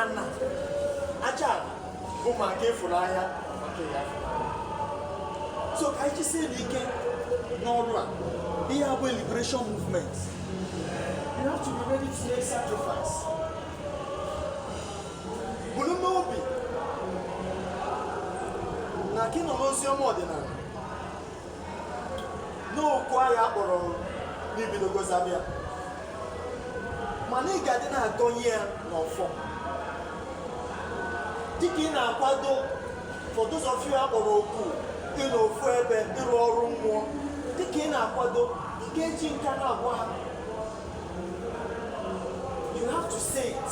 ana aja ala bụ maka ịfụrụ ahịa maka ya so ka anyị jisie n'ike n'ọrụ a ihe a bụ liberation movement you have to be ready to make sacrifice buru n'obi na ka ị nọ n'ozi ọma ọdịnala n'oku a ha kpọrọ na i bidogo zaba mana ị ga-adị na-agọnye ya n'ọfọ dịka ị na-akwado for those of you akpọrọ oku ịnọ ofu ebe ịrụ ọrụ mmụọ dịka ị na-akwado ị ga-eji nka na-agwa ha you have to say it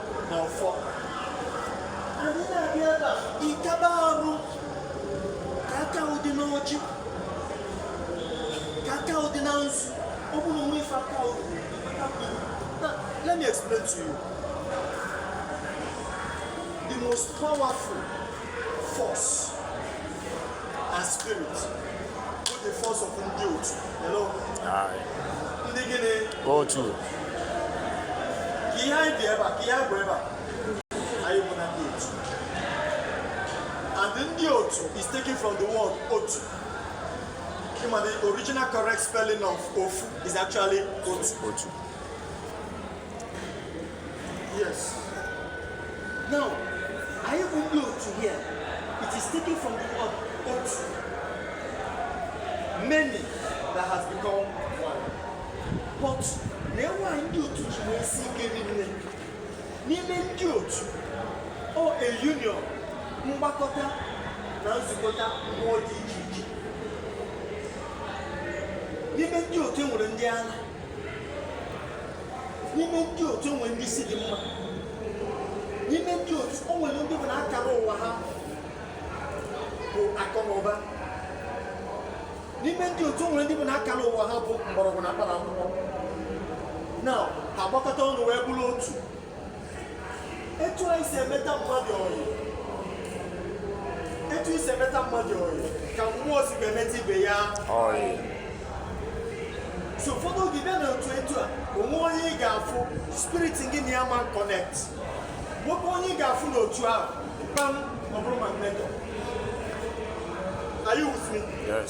n'ọfọ anyị na-abịa ebe a ikaba arụ ka aka ụdị n'ọjị ka aka ụdị na nzu ọ bụrụ onwe ife aka ụdị aka mmiri now let me explain to you the most powerful force and spirit with the force of ndị otu hello ndị gịnị otu ka ihe anyị dị ebe a ka ihe anyị bụ ebe a anyị bụ na ndị otu and ndị otu is taken from the word otu ịma the original correct spelling of ofu is actually otu otu Yes. Now, anyị bụ ndị otu here. It is taken from the word otu. Many that has become one. But na enwe ihe ndị otu ji wee si ike rinne. N'ime ndị otu, ọ a union, mgbakọta na nzukọta mmụọ dị iche iche. N'ime ndị otu enwere ndị agha. n'ime ndị otu o nwe ndị isi dị mma n'ime ndị otu o nwere ndị bụ na akara ụwa ha bụ akụ na ụba n'ime ndị otu nwere ndị bụ na akara ụwa ha bụ mgbọrọgwụ na mkpara akwụkwọ na agbakọta ọnụ wee bụrụ otu etu anyị si emeta mmadụ ọyị etu i si emeta mmadụ ọyị ka mmụọ si ga-emeta ibe ya ọyị so ụfọdụ oge bịa na otu etu a o nwe onye ị ga-afụ spirit gị na ya ma connect nwekwa onye ị ga-afụ n'otu ahụ kpam ọ bụrụ magnet o are you with me yes